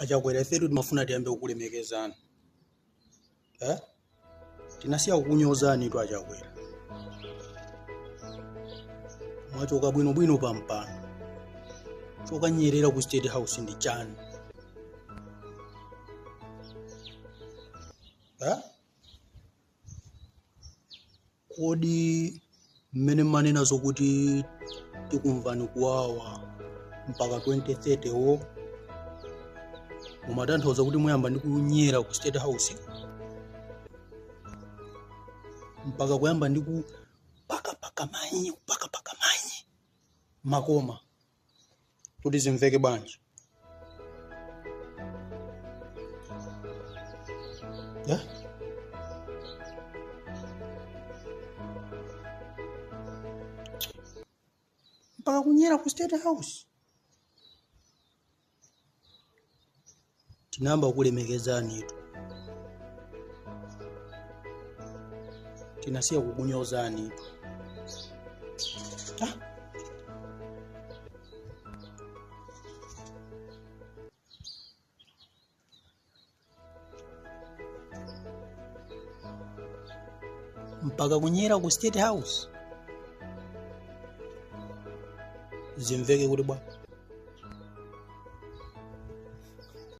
achakwera ifetu timafuna tiyambe kukulemekezani eh? tinasiya kukunyozani tu achakwera mwachoka bwinobwino pampano chokanyerera ku state house ndi chani eh? Kodi mmene mmanena zokuti tikumvetsani kuwawa mpaka 2030 wo mumatanthauza kuti muyamba ndi kunyera ku state house mpaka kuyamba ndi kupakapaka manyi kupakapaka manyi makoma kuti zimveke bwanji ya mpaka kunyera ku state house tinayamba kukulemekezanitu tinasiya kukunyozanitu ah. mpaka kunyera ku state house zimveke kuti bwa